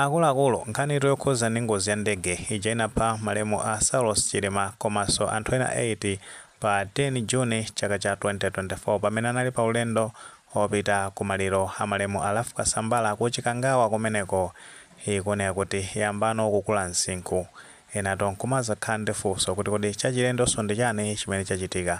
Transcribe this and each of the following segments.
Akuluakulu, nkhanitu yokhuza ndi ngozi ya ndege ija inapha malemu a Saulos Chilima komaso anthu ena 8 pa 10 June chaka cha 2024 pamene anali pa ulendo opita ku maliro a malemu a Ralph Kasambara ku Chikangawa kumeneko ikuoneka kuti yambano kukula msinkhu. Enatu nkumazakhala ndi funso kuti kodi chachilendonso ndi chani chimene chachitika?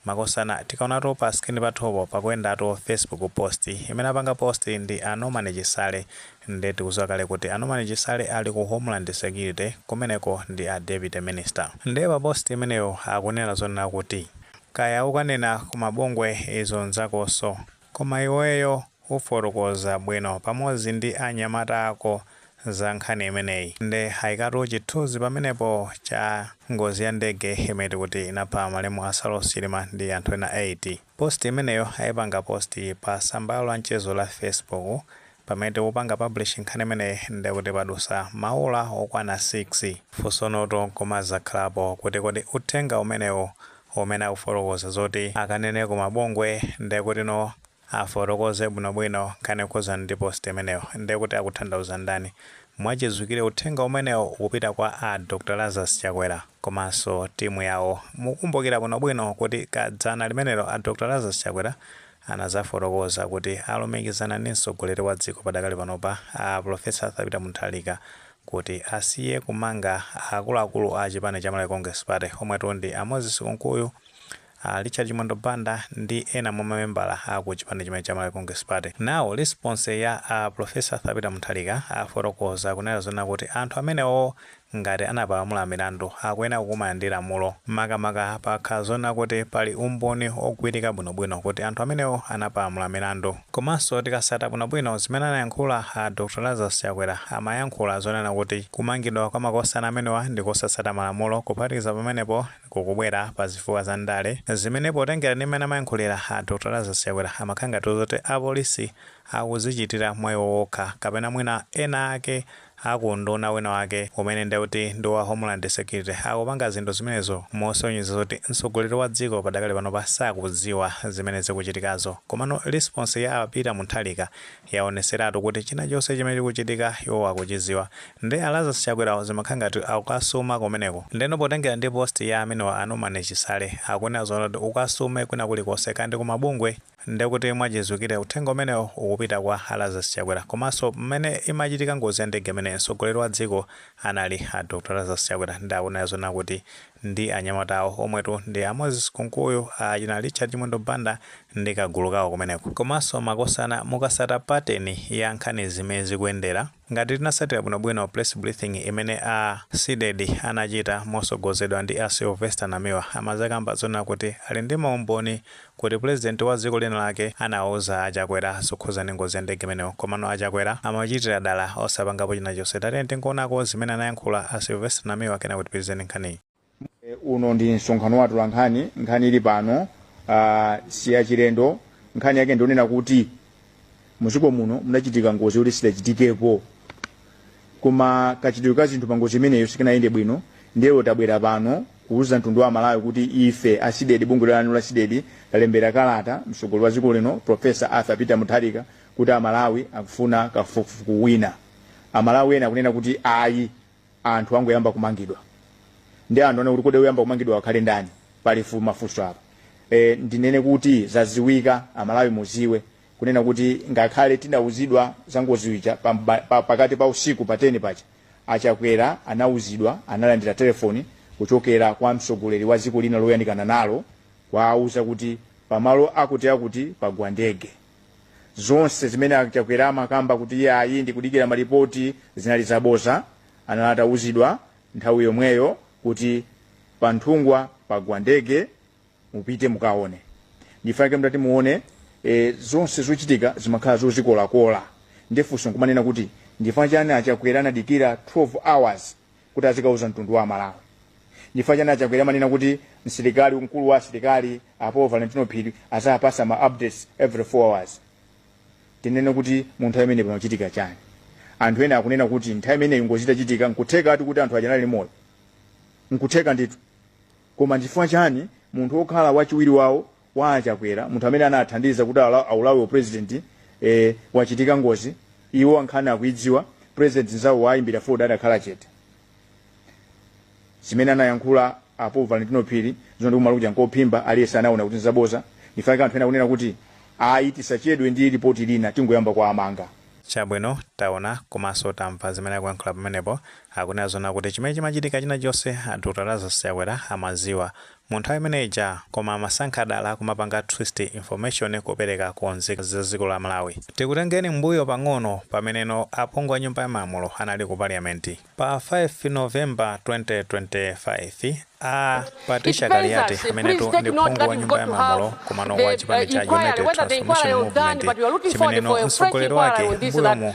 Makosana tikaonatu pa screen pathupo pakuyendatu Facebook post. Imene apanga post ndi a Norman Chisale nde tikuziwa kale kuti a Norman Chisale ali ku Homeland Security kumeneko ndi a Deputy Minister. Nde pa post imeneyo akunena zonena kuti. Kaya ukanena ku mabungwe izo nzakonso. Koma iweyo ufotokoza bwino pamodzi ndi a nyamata ako za nkhani imeneyi nde aikatu chithuzi pamenepo cha ngozi ya ndege yomwe tikuti inapha malemu a Saulos Chilima ndi anthu ena 8. Post imeneyo aipanga post pa tsamba lawo la mchezo la Facebook Pamene tikupanga publish nkhani imeneyi ndekuti padusa ma ola okwana 6. Funsonotu nkumadzakhalapo kuti kodi uthenga umenewu umene akufotokoza zoti akanene ku mabungwe ndekutino afotokoze bwino bwino nkhani yokhudzana ndi post imeneyo ndekuti akuthandauza ndani? Mwachidziwikire uthenga umenewo ukupita kwa a Dr Lazarus Chakwera komanso timu yawo. Mukukumbukila bwino bwino kuti kadzana limenelo a Dr Lazarus Chakwera anadzafotokoza kuti alumikizana ndi mtsogoleri wa dziko padakali panopa a Pulofesa Arthur Peter Mutharika kuti asiye kumanga akuluakulu a chipani cha Malawi Congress Party omwetu ndi a Moses Kunkuyu, a Richard Chimwendo Banda ndi ena mwa mamembala a ku chipani chimenechi cha Malawi Congress Party. Nde response ya a Pulofesa Arthur Peter Mutharika afotokoza kunena zonena kuti anthu amenewo Ngati anapalamula milandu, akuyenera kukumana ndi lamulo, makamaka pakakhala zonena kuti pali umboni ogwirika bwinobwino kuti anthu amenewo anapalamula milandu. Komanso tikasata bwinobwino zimene anayankhula a Dr Lazarus Chakwera amayankhula zonena kuti kumangidwa kwa makosana amenewa ndi kusatsata malamulo kuphatikiza pamenepo kukubwera pa zifukwa za ndale zimene potengera ndi mmene amayankhulira a Dr Lazarus Chakwera amakhala ngati zoti apolisi akudzichitira mwa iwo wokha kapena mwina ena ake a ku unduna wina wake umene ndiye kuti ndi wa Homeland Security akupanga zinthu zimenezo mosonyeza zoti mtsogoleri wa dziko padakali panopa sakudziwa zimene zikuchitikazo. Komano response ya a Peter Mutharika yaonetseratu kuti chinachonse chimene chikuchitika iwowo akuchidziwa. Nde a Lazarus Chakwerawo zimakhala ngati akasuma kumeneko. Ndeno potengera ndi post ya amenewa a Norman Chisale akunena zonena kuti ukasume kwina kulikonse kaya ndi ku mabungwe, Ndekuti mwachidziwikire uthenga umenewo ukupita kwa a Lazarus Chakwera komanso mmene imachitika ngozi ya ndege imene mtsogoleri wa dziko anali a Dr Lazarus Chakwera nde akunena zonena kuti ndi anyamata awo omwetu ndi a Moses Kunkuyu, achina Richard Chimwendo Banda ndi kagulu kawo kumeneko. Komanso makosana mukasata pateni ya nkhanizi mmene zikuyendera, Ngati tinasatila bwino bwino press briefing imene a CDEDI anachita mosogozedwa ndi a Sylvester Namiwa amazakamba zonena kuti ali ndi ma umboni kuti president wa dziko lina lake anawauza a Chakwera zokhudza ndi ngozi ya ndege imeneyo komano a Chakwera amachitila dala osapangapo chinachonse tatiyeni tingoonako zimene anayankhula a Sylvester Namiwa kenako tipitilize ndi nkhaniyi. E, uno ndi msonkhano wa atolankhani nkhani ili pano ah, si yachilendo nkhani yake ndionena kuti muziko muno munachitika ngozi yoti sidachitikepo koma kachitidwe ka zinthu pa ngozi imeneyo sikanayende bwino ndiye lero tabwera pano kuuza mtundu wa malawi kuti ife a CDEDI bungwe lanu la CDEDI talembera kalata mtsogoleri wa dziko lino profesa arthur peter mutharika kuti amalawi akufuna kafukufuku wina amalawi ena akunena kuti ayi anthu angoyamba kumangidwa ndiye anthu akuti kodi oyamba kumangidwa akhale ndani pali fu mafunso apa e, ndinene kuti zaziwika amalawi muziwe kunena kuti ngakhale tidauzidwa za ngozi ija pa, pa, pakati pa usiku pa 10 paja achakwera anauzidwa analandira telefoni kuchokera kwa mtsogoleri wa dziko lina loyandikana nalo kuwauza kuti pamalo akuti akuti pagwa ndege zonse zimene achakwera amakamba kuti iyayi ndikudikira malipoti zinali zaboza anali atauzidwa nthawi yomweyo kuti pa nthungwa pagwa ndege mupite mukaone ndifake mtati muone e, zonse zochitika zimakhala zozikolakola nde funso nkumanena kuti ndifachani achakwera anadikira 12 hours kuti azikauza mtundu wa amalawi chifukwa chani achakwera amanena kuti msilikali mkulu wa asilikali a paul valentino phiri azapasa ma updates every 4 hours tinene kuti munthu amene pamachitika chani anthu ena akunena kuti nthawi imeneyo ngozi itachitika nkutheka ati kuti anthu aja anali moyo nkutheka ndithu koma ndichifukwa chani munthu wokhala wachiwiri wawo Kwa a Chakwera, munthu amene anathandiza kuti alowe u president ee wachitika ngozi iwo nkhani akuidziwa, president nzawo wawayimbira foni adakhala chete. Zimene anayankhula a Paul Valentino Phiri zoti kumalo kuja nkophimba aliyense anaona kuti nzaboza, ndifake anthu ena akunena kuti ayi tisachedwe ndi lipoti lina tingoyamba kuwamanga. Chabwino, taona komanso tamva zimene akuyankhula pamenepo, akunena zoona kuti chimene chimachitika china chonse a Dr Lazarus Chakwera amadziwa, Mu nthawi imene ija koma amasankha dala kumapanga twist information kupereka ku nzika za dziko la Malawi. Tikutengeni mbuyo pang'ono pameneno aphungu a nyumba ya malamulo anali ku parliament. Pa 5 November 2025 a Patricia Kaliati amenetu ndi phungu wa nyumba ya malamulo komano wa chipani cha United Transformation Movement chimeneno mtsogoleri wake mbuyomu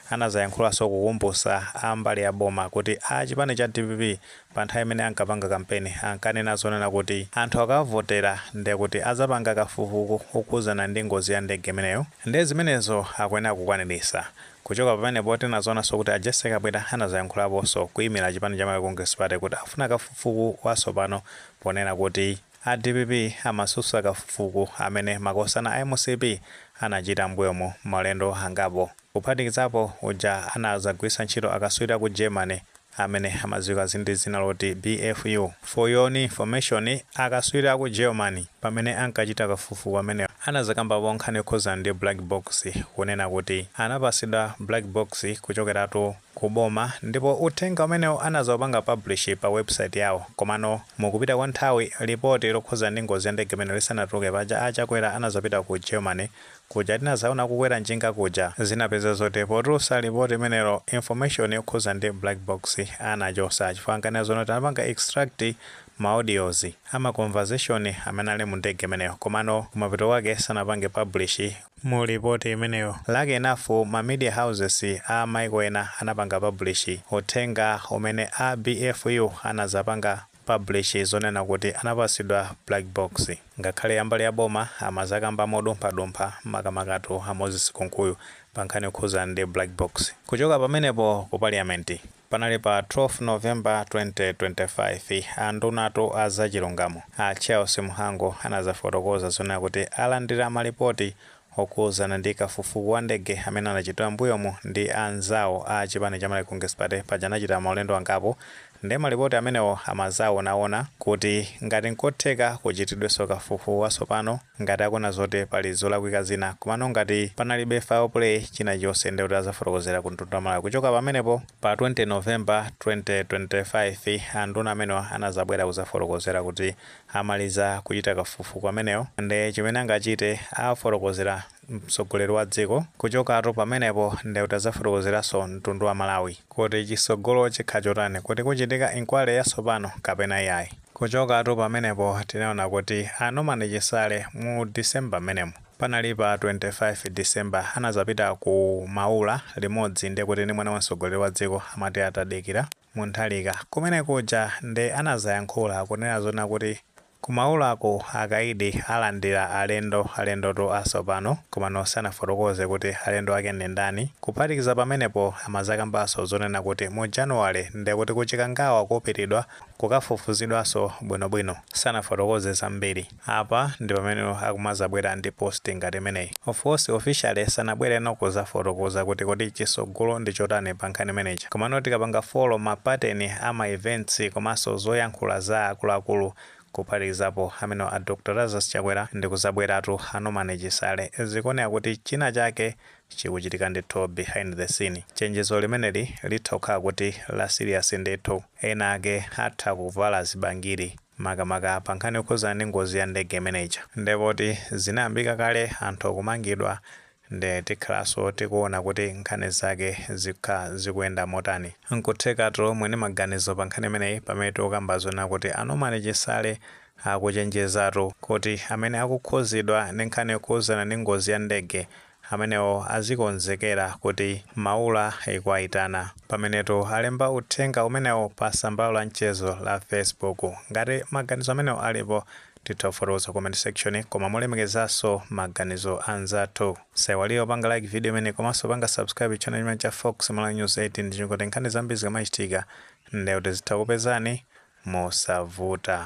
Anadzayankhulaso kukumbusa a mbali ya boma kuti a chipani cha dpp pa nthawi imene ankapanga kampeni ankanena zonena kuti anthu akawavotera nde kuti adzapanga kafukuku okhudzana ndi ngozi ya ndege imeneyo nde zimenezo akuyenera kukwanilisa. Kuchoka pamenepo tinazaonanso kuti a Jessy Kabwila anadzayankhulaposo kuyimila chipani cha Malawi Congress Party kuti akufuna kafufuku wasopano ponena kuti a dpp amasusa kafufuku amene makosana a mcp anachita m'mbuyomu maulendo angapo. kuphatikizapo uja anadzagwiritsa ntchito akatswiri a ku Germany amene amadziwika ndi dzina loti BFU. For your own information, akatswiri a ku Germany pamene ankachita kafufuku ameneyu anadzakambapo nkhani yokhudzana ndi black box kunena kuti anapatsidwa black box kuchokeratu ku boma ndipo uthenga umenewu anadzaupanga publish pa website yawo komano mukupita kwa nthawi lipoti lokhudzana ndi ngozi ya ndege imeneyo lisanatuluke paja a Chakwera anadzapita ku Germany kuja tinazaona kukwera njinga kuja zinapeza zoti potulusa report imenelo information yokhuza ndi black box anachosa chifukwa ankanena zoti anapanga extract ma audios ama conversation amene anali mu ndege imeneyo komano kumapeto kake sanapange publish mu report imeneyo lucky enough ma media houses a maiko ena anapanga publish uthenga umene a BFU anazapanga publish zonena kuti anapasidwa black box ngakhale ambali ya boma amazakamba modumpha dumpha makamakatu a Moses Kumkuyu pa nkhani yokhuzana ndi black box. Kuchoka pamenepo ku parliament panali pa 12 November 2025 andunatu a za chilungamo a Charles Mhango anazafotokoza zonena kuti alandira ma lipoti Okhuzana ndi kafufuku wa ndege amene anachitidwa mmbuyomu ndi anzawo a chipani cha Malawi Congress Party paja anachita maulendo angapo nde malipoti amenewo amazawonawona kuti ngati nkotheka kuchitidweso kafufuku wasopano ngati akuona zoti pali zolakwika zina komano ngati panalibe foul play china chonse nde kuti azafotokozera ku mtundu wa Malawi kuchoka pamenepo pa 20 November 2025 anduna amenewa anazabwera kuzafotokozera kuti amaliza kuchita kafufuku amenewo nde chimene angachite afotokozera mtsogoleri wa dziko kuchokatu pamenepo nde kuti azafotokozeranso mtundu wa Malawi kuti chisogolo chikhala chotani kuti kuchitika inquiry yasopano kapena iyayi. Kuchokatu pamenepo tinaona kuti a Norman Chisale mu December mmenemo panali pa 25 December anazapita ku Maula limodzi nde kuti ndi mwana wa mtsogoleri wa dziko amati a Tadikira, Mutharika, Kumene kuja nde anazayankhula kunena zonena kuti ku Maulako akaidi alandila alendo alendotu asopano komano sanafotokoze kuti alendo ake ndi ndani kuphatikiza pamenepo amazakambaso zonena kuti mu January ndekuti ku Chikangawa kupitidwa kukafufuzidwaso bwino bwino sanafotokoze zambiri. Apa ndipameneno akumazabwera ndi post ngati imeneyi. Of course officially sanabwereno kuzafotokoza kuti kodi chitsogolo ndi chotani pa nkhani imene ija. Komano tikapanga follow ma pattern a ma events komanso zoyankhula za akuluakulu kuphatikizapo amenewa a Dr Lazarus Chakwera ndi kuzabweranso a Norman Chisale. Zikuoneka kuti china chake chikuchitika ndithu behind the scene. Chenjezo limeneli litha kukhala kuti la serious ndithu. Ena ake atha kuvala zibangiri. makamaka pa nkhani yokhudzana ndi ngozi ya ndege imene ija nde poti zinayambika kale anthu kumangidwa nde tikhalanso tikuona kuti nkhani zake zikhala zikuyenda motani. Nkutheka tu muli ndi maganizo pa nkhani imeneyi pamene tikukamba zonena kuti a Norman Chisale akuchenjezatu kuti amene akukhudzidwa ndi nkhani yokhudzana ndi ngozi ya ndege amenewo azikonzekera kuti maula ikuwaitana. Pamenetu alemba uthenga umenewu pa tsamba lawo la mchezo la Facebook. Ngati maganizo amenewo alipo, titha kufotokoza ku comment section koma molemekezanso maganizo a anzathu. Musaiwale kupanga like video imeneyi komanso kupanga subscribe channel chimenechi cha Fox Malawi News 18 ndi cholinga choti nkhani zambiri zikamachitika, ndiye kuti zitha kukupezani mosavuta.